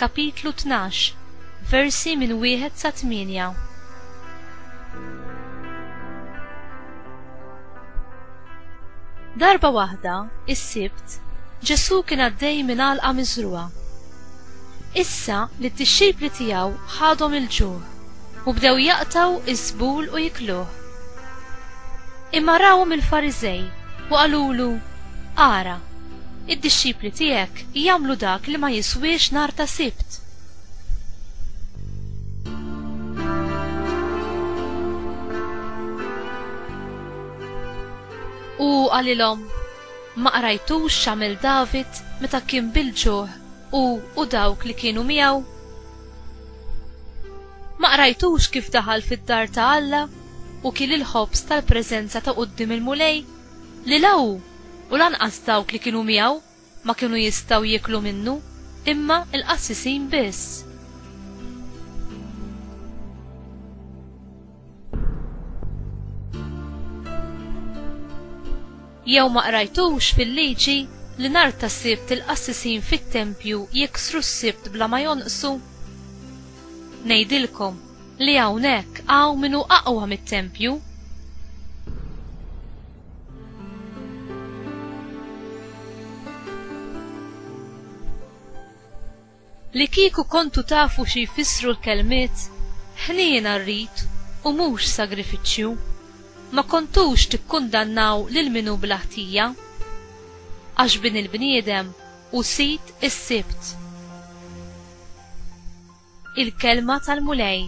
Kapitlu Tnax, Versi minn Wieħed sa Tmienja Darba waħda, is-Sibt, Ġesù kien għaddej minn għalqa miżrugħa. Issa li t-tixxipli tiegħu ħadhom il-ġuħ u bdew jaqtaw iż-żbul u jikluh. Imma rawhom il-Fariżej u qalulu, Ara, Id-dixxipli tiegħek jagħmlu dak li ma jiswiex nhar ta' Sibt. U qalilhom, Ma qrajtux x'għamel David meta kien bil-ġuħ hu u dawk li kienu miegħu? Ma qrajtux kif daħal fid-dar ta' Alla u kiel il-ħobż tal-preżenza ta' quddiem il-Mulej? Li la hu, u lanqas dawk li kienu miegħu, ma kienu jistgħu jieklu minnu, imma l-qassisin biss. Jew ma qrajtux fil-Liġi li nhar tas-Sibt il-qassisin fit-tempju jiksru s-Sibt bla ma jonqsu? Ngħidilkom, li hawnhekk hawn min hu aqwa mit-tempju. Li kieku kontu tafu xi jfissru l-kelmiet ħniena rrid u mhux sagrifiċċju, ma kontux tikkundannaw lil min hu bla ħtija. Għax Bin il-bniedem hu sid is-Sibt. Il-Kelma tal-Mulej.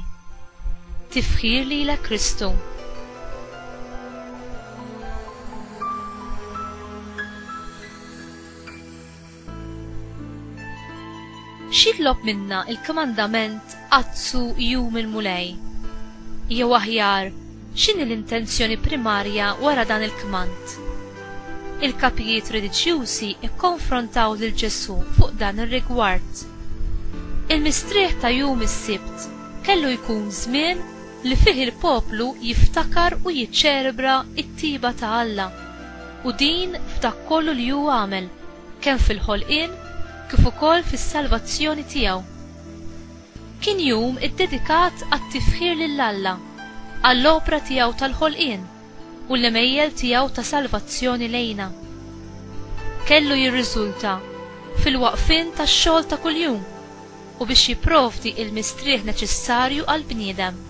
Tifħir lilek Kristu. X'jitlob minna l-kmandament Azzu jum il-Mulej? Jew aħjar, X'inhi l-intenzjoni primarja wara dan il-kmand? Il-kapijiet reliġjużi kkonfrontaw lil Ġesù fuq dan ir-rigward. Il-mistrieħ ta' jum is-Sibt kellu jkun żmien li fih il-poplu jiftakar u jiċċelebra t-tjieba ta' Alla, u din f'dak kollu li hu għamel, kemm fil-ħolqien kif ukoll fis-salvazzjoni tiegħu. Kien jum iddedikat għat-tifħir lil Alla għall-opra tiegħu tal-ħolqien u l-għemejjel tiegħu ta' salvazzjoni lejna. Kellu jirriżulta fil-waqfien tax-xogħol ta' kuljum u biex jipprovdi l-mistrieħ neċessarju għall-bniedem.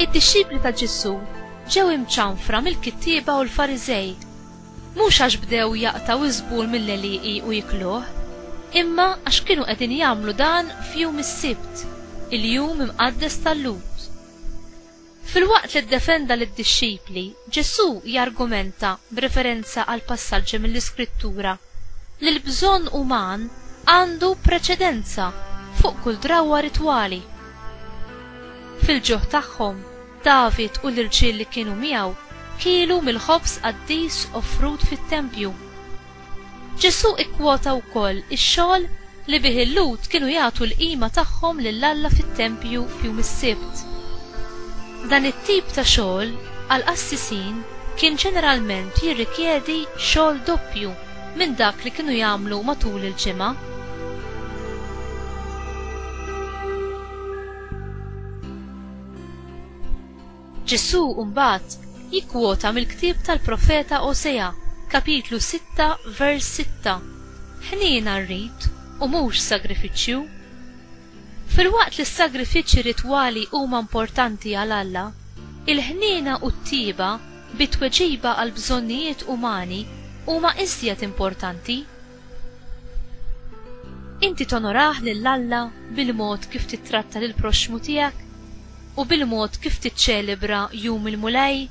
Id-dixxipli ta' Ġesù ġew imċanfra mill-kittieba u l-Fariżej Mhux għax bdew jaqtgħu ż-żbul mill-għelieqi u jikluh, imma għax kienu qegħdin jagħmlu dan f'jum is-Sibt, il-jum imqaddes tal-Lhud. Filwaqt li ddefenda lid-dixxipli, Ġesù jargumenta b'referenza għal passaġġi mill-Iskrittura li l-bżonn uman għandu preċedenza fuq kull drawwa ritwali. Fil-ġuħ tagħhom, David u l-irġiel li kienu miegħu kielu mill-ħobż qaddis offrut fit-tempju. Ġesù kkwota wkoll ix-xogħol li bih il-Lhud kienu jagħtu l-qima tagħhom lil Alla fit-tempju f'jum is-Sibt. Dan it-tip ta' xogħol għall-qassisin kien ġeneralment jirrikjedi xogħol doppju minn dak li kienu jagħmlu matul il-ġimgħa. Ġesù mbagħad jikkwota mill-ktieb tal-profeta Osea, kapitlu 6, vers 6, Ħniena rrid u mhux sagrifiċċju. Filwaqt li s-sagrifiċċji ritwali huma importanti għal Alla, il-ħniena u t-tjieba bi tweġiba għall-bżonnijiet umani huma iżjed importanti. Inti tonorah lil Alla bil-mod kif tittratta lill-proxxmu tiegħek u bil-mod kif tiċċelebra Jum il-Mulej?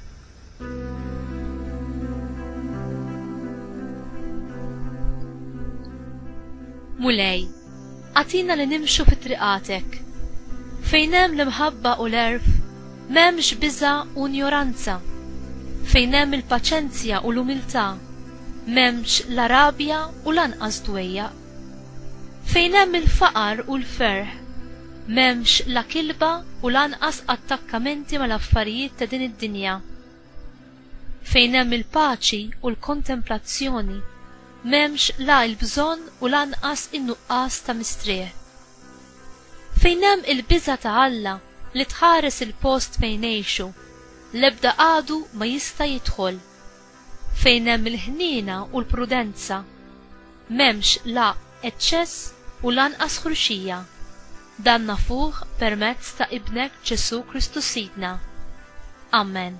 Mulej, agħtina li nimxu fi triqatek. Fejn hemm l-imħabba u l-għerf, m'hemmx biża' u njoranza. Fejn hemm il-paċenzja u l-umiltà, M'hemmx la rabja u lanqas dwejjaq. Fejn hemm il-faqar u l-ferħ, m'hemmx la kilba u lanqas attakkamenti mal-affarijiet ta' din id-dinja. Fejn hemm il-paċi u l-kontemplazzjoni, m'hemmx la il-bżonn u lanqas in-nuqqas ta' mistrieħ. Fejn hemm il-biża' ta' Alla li tħares il-post fejn ngħixu, l-ebda għadu ma jista' jidħol. Fejn hemm il-ħniena u l-prudenza, m'hemmx la eċċess u lanqas ħruxija. Dan nafuh permezz ta' Ibnek Ġesù Kristu Sidna. Amen.